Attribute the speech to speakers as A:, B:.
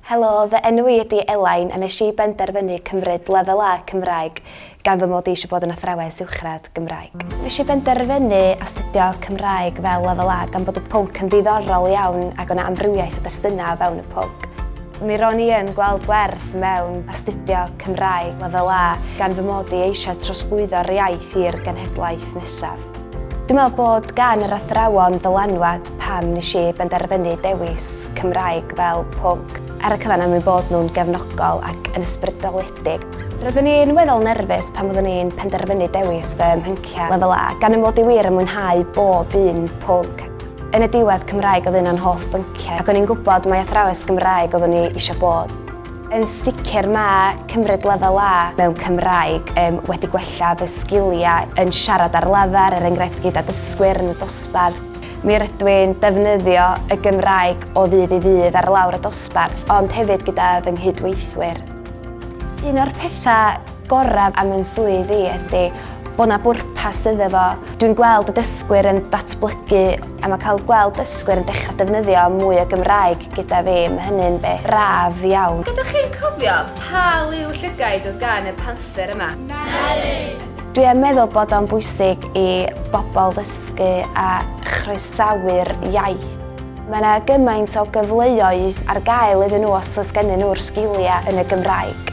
A: Helo, fy enw i ydi Elain a nes i benderfynu cymryd Lefel A Cymraeg gan fy mod i eisiau bod yn athrawes uwchradd Gymraeg. Nes i benderfynu astudio Cymraeg fel Lefel A gan bod y pwnc yn ddiddorol iawn ac o 'na amrywiaeth o destunau o fewn y pwnc. Mi ro'n i yn gweld gwerth mewn astudio Cymraeg Lefel A gan fy mod i eisiau trosglwyddo'r iaith i'r genhedlaeth nesaf. Dwi'n meddwl bod gan yr athrawon ddylanwad pam nes i benderfynu dewis Cymraeg fel pwnc. Ar y cyfan am eu bod nhw'n gefnogol ac yn ysbrydoledig. Roeddwn i'n weddol nerfus pan fyddwn i'n penderfynu dewis fy mhyncie Lefel A, gan fy mod i wir yn mwynhau bob un pwnc. Yn y diwedd, Cymraeg oedd un o'n hoff bynciau ac o'n i'n gwybod mai athrawes Gymraeg oeddwn i eisiau bod. Yn sicr mae cymryd lefel A mewn Cymraeg um, wedi gwella fy sgiliau yn siarad ar lafar, er enghraifft gyda dysgwyr yn y dosbarth. Mi rydw i'n defnyddio y Gymraeg o ddydd i ddydd ar lawr y dosbarth, ond hefyd gyda fy nghydweithwyr. Un o'r pethau gorau am yn swydd i ydy bod na bwrpas iddo fo. Dwi'n gweld y dysgwyr yn datblygu A mae cael gweld dysgwyr yn dechrau defnyddio mwy o Gymraeg gyda fi, mae hynny'n beth braf iawn. Ydych chi'n cofio pa liw llygaid oedd gan y panther yma? Melyn! Dwi yn meddwl bod o'n bwysig i bobl ddysgu a chroesawu'r iaith. Mae yna gymaint o gyfleoedd ar gael iddyn nhw os oes gennyn nhw'r sgiliau yn y Gymraeg.